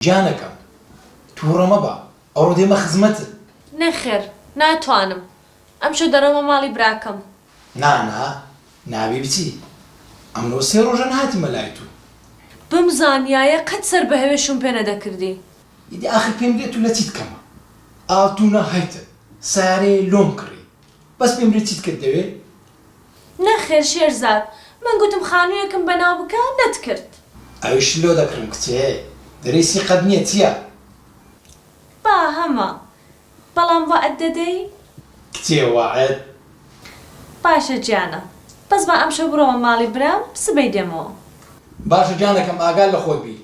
گیانەکەم توڕە مەبە ئەڕۆ دێمە خزمەتت. نەخێر ناتوانم ئەمشەو دەڕۆمە ماڵی براکەم. نا نا نابێ بچی ئەمرۆ سێ ڕۆژە نەهاتمە لای تو. بمزانیایە قەت سەر بە هەوێ شوم پێ نەدەکردی. ئیدی ئاخر پێم بلێ تو لە چیت کەمە ئاڵتونە هەیتت سارێ لۆم کڕی بەس پێم بلێ چیت کرد دەوێ نەخێر شێرزاد، من گوتم خانوویەکم بەناو بکە، لەت کرد. ئەویشت لۆ دەکڕم کچێ دریسی قەد نیە چیە. با هەمە، بەڵام وەعد دەدەی؟ کچێ وەعد؟ باشە گیانە، بەس با ئەمشەو بڕۆمە ماڵی برام، سبەی دێمەوە. باشە گیانەکەم ئاگات لە خۆت بی،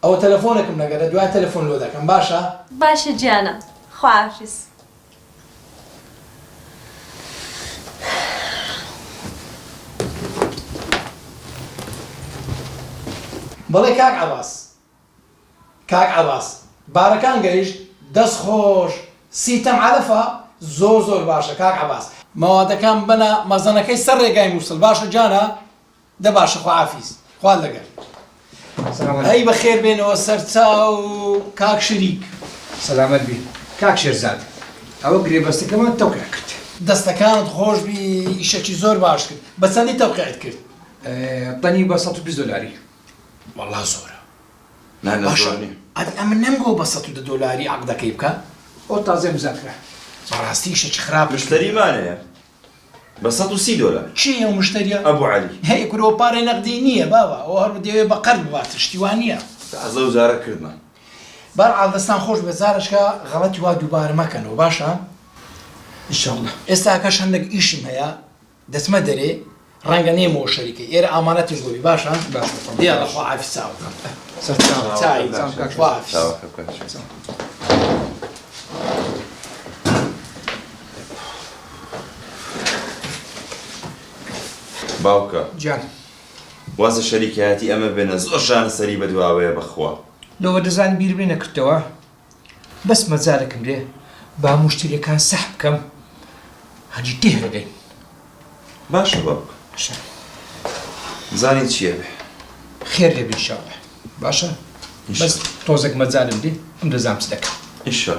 ئەوە تەلەفۆنەکم نەگەرە دوای تەلەفۆن لۆ دەکەم باشە. باشە گیانە خواحافیز. بەڵێ کاک عەباس کاک عەباس بارەکان گەیشت دەست خۆش سیتەم عەلەفە زۆر زۆر باشە کاک عەباس. مەوادەکان بەنە مەزەنەکەی سەر رێگای موسل باشە گیانە. دە باشە خوافیز خوات لەگەر. هەی بەخێر بێنەوە سەرچاو کاک شریک. سەلامەت بی کاک شێرزاد ئەوە گرێبەستەکەمان تەوقیع کرد. دەستەکانت خۆش بی ئیشەکی زۆر باشت کرد بە چەندی تەوقیعت کرد؟ تەنی بە سەد و بیست دۆلاری. وەڵا زۆرە باشە ئەدی ئەمن نەمگۆ بە سەد و دە دۆلاری عەقدەکەی بکە. ئەو تازەم زیاد کرا. بەڕاستی ئیشەکی خراپت کرد. مشتەریمان هەیە. بە سەد و سی دۆلار. کێ یە ئەو مشتەریە؟ ئەبو عەلی. هەی کورە ئەوە پارەی نەقدی نییە بابە ئەوە هەر دەیەوێ بە قەرز بباتە شتی وا نییە. تازە ئەو جارە کردمە. بەرحاڵ دەستان خۆش بێت جارەشکە غەڵەتی وا دووبارە مەکەنەوە باشە ان شاء اللە. ئێستا کەش هەندەک ئیشم هەیە دەچمە دەرێ. ڕەنگە نێم و شەریکە ئێرە ئامانەتیش بۆبی باشە دیار لەخوا عافی چاوەکە باوکە جان وازە شەریکایەتی ئەمە بێنە زۆر شان سەری بەدواوەیە بەخوا لەوە دەزان بیربێ نەکردەوە بەس مەجالەکم لێ با موشتەریەکان سەح بکەم هەنی تێهەگەین باشە باب شە زانی چیە بێ خێر لێ بینشاڵە باشە بەس تۆزێک مەجالم لێ ئەم دەزام چ دەکەم ئیشە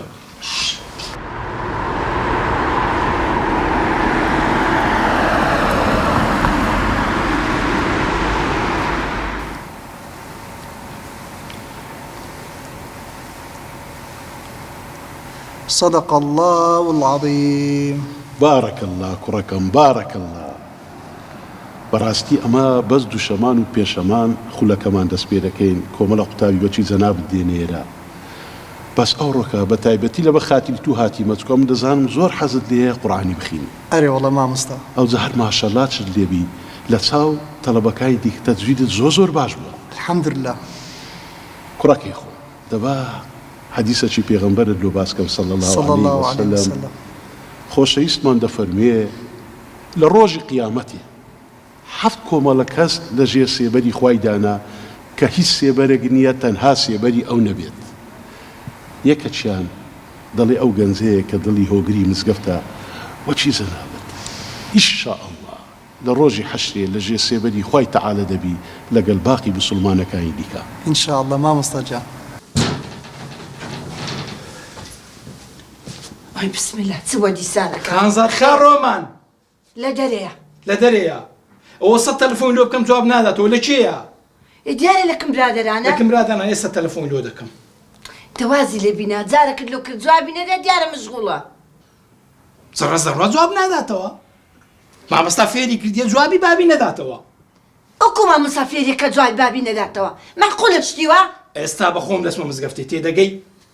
صدق اللە العظیم. بارک اللە کوڕەکەم بارک اللە بەڕاستی ئەمە بەس دوشەمان و پێشەمان خولەکەمان دەست پێ دەکەین کۆمەڵە قوتابی بەچوی جەنابت دێنە ئێرە بەس ئەوڕۆکە بەتایبەتی لەبە خاتری تو هاتیمە چکۆ من دەزانم زۆر حەزت لێیە قوڕئانی بخینی. ئەرێوەڵا ماموستا. ئەوجە هەر ماشەلا چت لێبی لە چاو تەڵەبەکانی دیکە تەجویدت زۆر زۆر باش بوە. الحمداللە. کوڕەکەی خۆم دەبا حەدیسەکی پێغەمبەرت لۆ باس کەم صلی اللە علیە وسلم خۆشەویستمان دەفەرموێ لە ڕۆژی قیامەتێ حەفت کۆمەڵە کەس لە ژێر سێبەری خوای دانا کە هیچ سێبەرێک نییە تەنها سێبەری ئەو نەبێت. یەکەکیان دەڵێ ئەو گەنجەیە کە دڵی هۆگری مزگەفتە وەکی جەنابت. ئیش شا اللە لە ڕۆژی حەشرێ لە ژێر سێبەری خوای تەعالا دەبی لەگەل باقی موسوڵمانەکانی دیکە. ان شاء اللە مامۆستا گیان. ئای بسم اللە چ وە دیسانەکە. خانزادخا ڕۆمان لە دەرێیە. لە دەرێیە. ئەوە سەد تەلەفۆنی لۆ بکەم جواب ناداتەوە لە کێیە؟ ئێ دیارە لە کم برادەرانە. لە کم برادەرانە ئێستا تەلەفۆنی لۆ دەکەم. دە وازی لێ بینا جارەکت لۆ کرد جوابی نەدا دیارە مشغوڵە. زڕە زڕە جواب ناداتەوە. مامۆستا فێری کردیە جوابی بابی نەداتەوە. ئەکو مامۆستا فێریەکە جوابی بابی نەداتەوە. مەعقولە شتی وا؟ ئێستا بەخۆم دەچمە مزگەفتی تێدەگەی؟